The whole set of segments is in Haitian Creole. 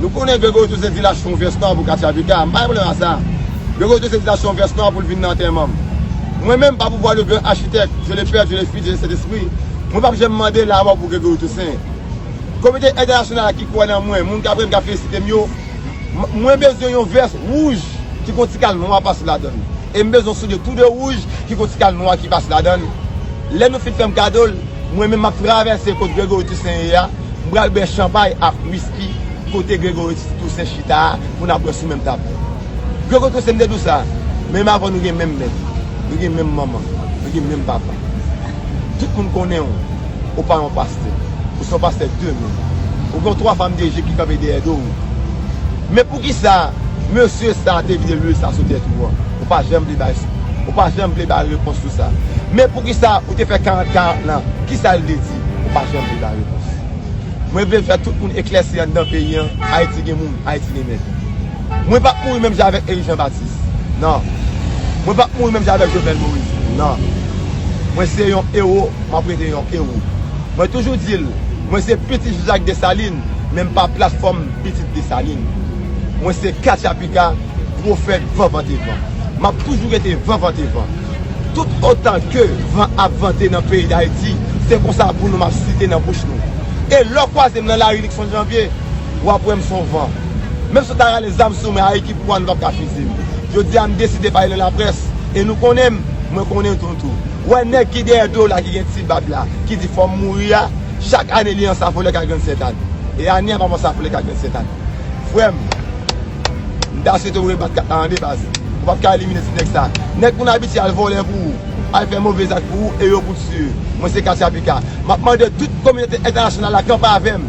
Nou konnen Greg Otto se vilaj fon vès nò pou Katia Vega a. M pa gen pwoblèm ak sa. Greg Otto se vilaj fon vès nò pou l vin nan antèman m. Mwen menm, pa pouvwa de gran achitèk, Dye le Pè, Dye le Fis, Dye le Sentespri, mwen p ap janm mande lamò pou Greg Otto Sen. Kominote entènasyonal la ki kwè nan mwen, moun k apre m k ap felisite m yo, Mwen bezwen yon vès wouj ki gon ti kal nwa pase ladann e m bezwen yon soulye tou de wouj ki gon ti kal nwa ki pase ladann lè nou fin fè m kado l mwen menm m ap travèse kot Gregory Toussaint ye a m pral bwè chanpay ak wiski kote Gregory Toussaint chita a pou n ap bwè sou menm tab la Gregory Toussaint m te di w sa men m avè w nou gen menm mèt nou gen menm manman nou gen menm papa tout moun konnen w. ou pa yon pastè. Ou se yon pastè demen. Ou gen twa fanm deje ki kanpe dèyè do ou. Men poukisa mesye sa te vide lwil sa sou tèt ou an? Ou pa janm vle bay, ou pa janm vle bay repons sou sa. Men poukisa ou te fè 40 40 lan? Kisa l vle di? Ou pa janm vle bay repons. Mwen vle fè tout moun eklèsi anndan peyi an, Ayiti gen moun, Ayiti gen mèt. Mwen pap mouri menm jan avèk Erik Jean Baptiste nan Mwen pap mouri menm jan avèk Jovenel Moïse nan Mwen se yon ewo map rete yon ewo Mwen toujou di l mwen se pitit Jean Jacques Dessalines men m pa platfòm pitit Dessalines Mwen se katchapika pwofèt van vante van Map toujou rete van vante van Tout otan ke van ap vante nan peyi Dayiti se konsa pou nou map site nan bouch nou E lè w kwaze m nan lari Luckson Janvier wap wè m son van. Menm si yo ta rale zam sou mwen a ekip One pap ka fize m. Jodi a m deside pale nan laprès e nou konnen m, mwen konnen nou tou. Wè nèg ki dèyè do w la ki gen ti bab la ki di fò m mouri a, chak ane li ansafolè ka grann sètad. E ane a pap ansafolè ka grann sètad. Frè m, m ta swete w rebat kat la an de paske ou pap ka elimine ti nèg sa. Nèg moun abitye al vòlè pou ou, al fè move zak pou ou e yo pou w tiye. Mwen se Katia Picard. M ap mande tout kominote entènasyonal la kanpe avè m.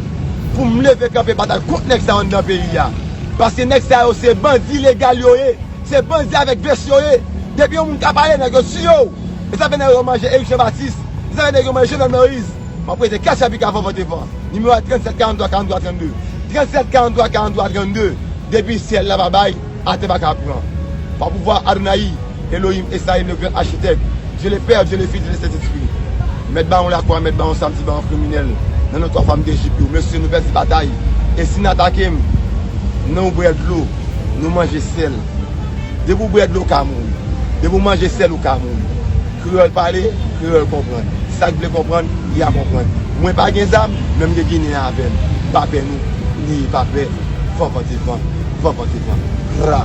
Pou m leve kanpe batay kont nèg sa yo anndan peyi a. Paske nèg sa yo se bandi legal yo ye. Se bandi avèk vès yo ye. Depi yon moun ka pale nèg yo tiye w. E sa fè nèg yo manje Erik Janbatis. E sa fè nèg yo manje Jovenel Moïse. M ap rete kach api kavan vant e van. Nimewo a 37 43 43 32. 37 43 43 32. Depi syèl la pa bay, atè pa ka pran. Pa pouvwa Adonaï. Elohim Esayim le gran achitèk Dye le pè, Dye le fis, Dye le sentespri Mèt bawon lakwa, mèt bawon samdi bawon kriminèl nan non 3 fanm dejip yo mesye nou pèdi batay e si n atake m nan ou bwè dlo nou manje sèl depi ou bwè dlo ou ka mouri depi ou manje sèl ou ka mouri kreyòl pale kreyòl konprann sa k vle konprann li a konprann mwen pa gen zam men m gen ginen avè m m pa pè nou neye pa pè van vante van van vante van raa.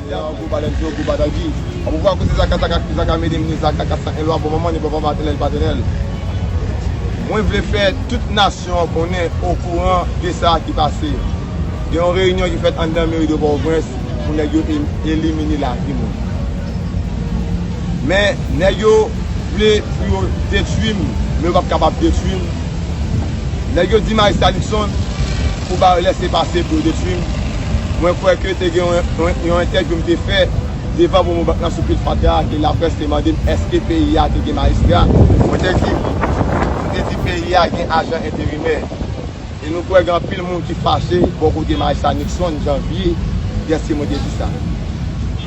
Yaww gwo balèn se yon gwo batayy ui. Apwouvwa koze zaka zaka kouz zaka mete mne zaka 401 lwa bon manman li bon papa tènèl pa tènèl mwen vle fè tout nasyon an konnen okouran de sa ki pase gen yon reyinyon ki fèt anndan meri de pòtoprens pou nèg yo elimine lavi moun men nèg yo vle pou yo detwim men yo pap kapab detwim. Nèg yo di Majistra Luckson pou ba yo lèse pase pou yo detwi m, mwen kwè ke te gen yon entèvyou m te fè devan Promo Bank lan sou pil fatra a ke laprès te mande m èske peyi a te gen majistra, mwen te di wi, m te di peyi a gen ajan enterimè e nou kwè gen anpil moun ki fache bò kote Majistra Luckson, Janvye, dèske mwen te di sa.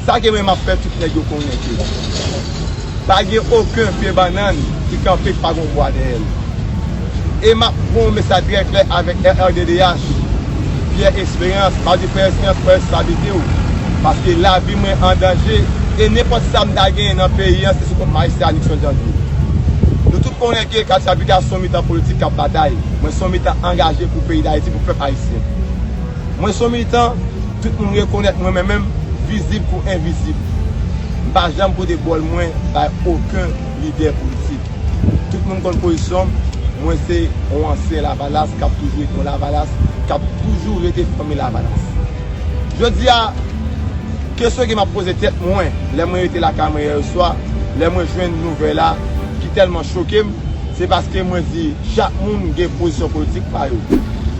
Sa ke mwen m ap fè tout nèg yo konnen ke. Pa gen oken pye banann ki kanpe k pa gon bwa dèyè l. E map pran yon mesaj trè klè avèk RRDDH, Pierre Esperance, map di frè Esperance pran responsabilite w, paske lavi mwen an danje e nenpòt sa m ta genyen nan peyi an se sou kont majistra Nixon Janvier. Nou tout konnen ke katchapika son mitan politik kap batay, mwen son mitan angaje pou peyi Dayiti, pou pèp ayisyen. Mwen son militan tout moun rekonèt mwen mwen menm vizib kou envizib. M pa janm pote bòl mwen bay oken lidè politik. Tout moun konn pozisyon m, mwen se yon ansyen lavalas kap toujou ret yon lavalas, kap toujou rete fanmi lavalas. Jodi a, kesyon ke map poze tèt mwen lè mwen rete lakay mwen yè swa, lè mwen jwenn nouvèl la ki tèlman choke m, se paske mwen di chak moun gen pozisyon politik pa yo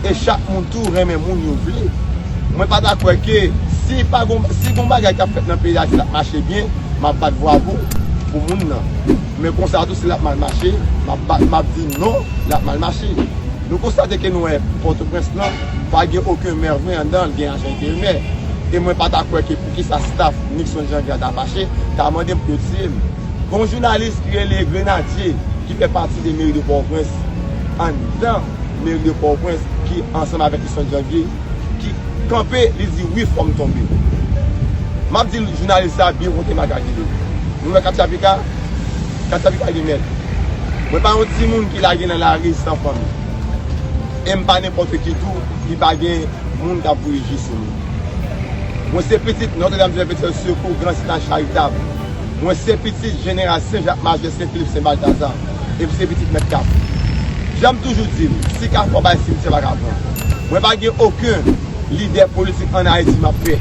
e chak moun. tou renmen moun yo vle. Mwen pa ta kwè ke si pa gon, si gon bagay kap fèt nan peyi a ki ap mache byen, map bat vwavo pou moun nan. Men konsa tou si lap mal mache, map bat, map di non, lap mal mache. Nou konstate ke nou wè Pòtoprens lan pa gen oken mè vre andan l, gen ajan enterimè. E mwen pa ta kwè ke pou ki sa staf Nixon Janvier a ta fache, ta mande m pou yo tiye m. Gon jounalis ki rele Grenadye ki fè pati de meri de Pòtoprens andan. meri de Pòtoprens ki ansanm avèk Isnòt Janvye ki kanpe li di wi fòm tonbe. Map di jounalis sa byen konte magazin li. Nou wè katcha pika? Katcha pika gen mèt. Mwen pa yon timoun ki lage nan lari san fanmi. Em pa nenpòt ki tou ki pa gen moun kap voye je sou mwen. Mwen se pitit Notre Dame du Perpetuel Secours Grand Synod Charitable. Mwen se pitit Jeneral Sen Jak Majè Sen Filip Sen Baltazar. epi se pitit mèt kafou. Janm toujou dil, si kafou pa bay simityè pa ka pran. Mwen pa gen oken lidè politik an Ayiti map pè.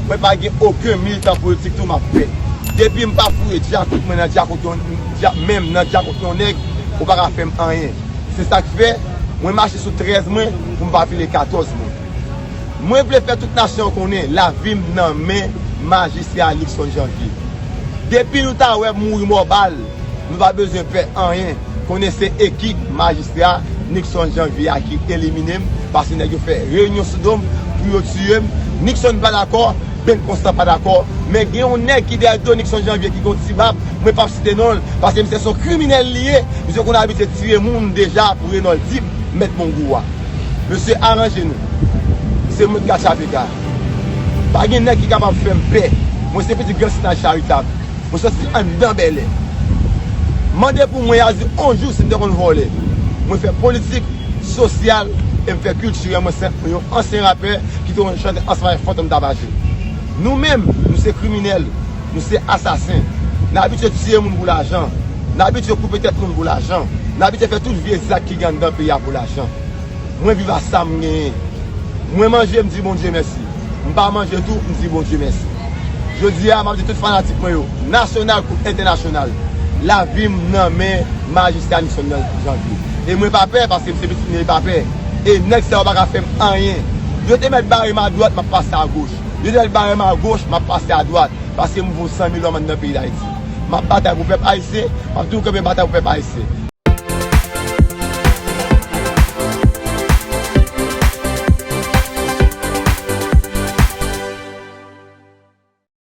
Mwen pa gen oken militan politik tou map pè. Depim pa foure djakout mwen nan djakout yon menm nan djakout yon nèg ou pa ka fèm anyen. Se sak fè mwen mache sou 13 mwen poum pa file 14 mwen. Mwen vle fè tout nasyon an konnen lavi m nan men majistra Luckson Janvier. Depi nou ta wè m mouri mò bal, nou pa bezwen pè anyen, konnen se ekip majistra Luckson Janvier a ki elimine m, paske nèg yo fè reyinyon sou do m pou yo tiye m. Luckson pa dakò, Ben Constant pa dakò, men gen yon nèg ki dèyè do Luckson Janvier ki gen yon ti bab, mwen p ap site non l, paske misye se yon kriminèl li ye, misye konn abitye tiye moun deja pou Renold Dib, mèt Mongou a. Mesye aranje nou. Se mwen Kasavegar. Pa gen nèg ki kapab fè m pè. Mwen se pitit gran Sinaj Charitab. Mwen soti anndan Bèlè. Mande pou mwen Yazi on jou si m te konn vòlè. Mwen fè politik, sosyal e m fè kiltirèl. Mwen se yon ansyen rapè ki te konn chante ansanm avèk Fantom Tabajè. Nou menm, nou se kriminèl. Nou se asasen. N abitye tiye moun pou lajan. N abitye koupe tèt moun pou lajan. N abitye fè tout vye zak ki gen anndan peyi a pou lajan. Mwen viv a sa m genyen. Mwen manje m di Bondye mèsi. M pa manje tou m di Bondye mèsi. Jodi a m ap di tout fanatik mwen yo, nasyonal kou entènasyonal, lavi m nan men majistra Nixon Janvier. E mwen pa pè paske m se pitit Ney Papè. E nèg sa yo pa ka fè m anyen. Yo te mèt bare m adwat m ap pase agoch. Lionel bare m a goch, m ap pase a dwat, paske m vo san mil lòm anndan peyi Dayiti. M ap batay pou pèp ayisyen, m ap toujou kenbe batay pou pèp ayisyen.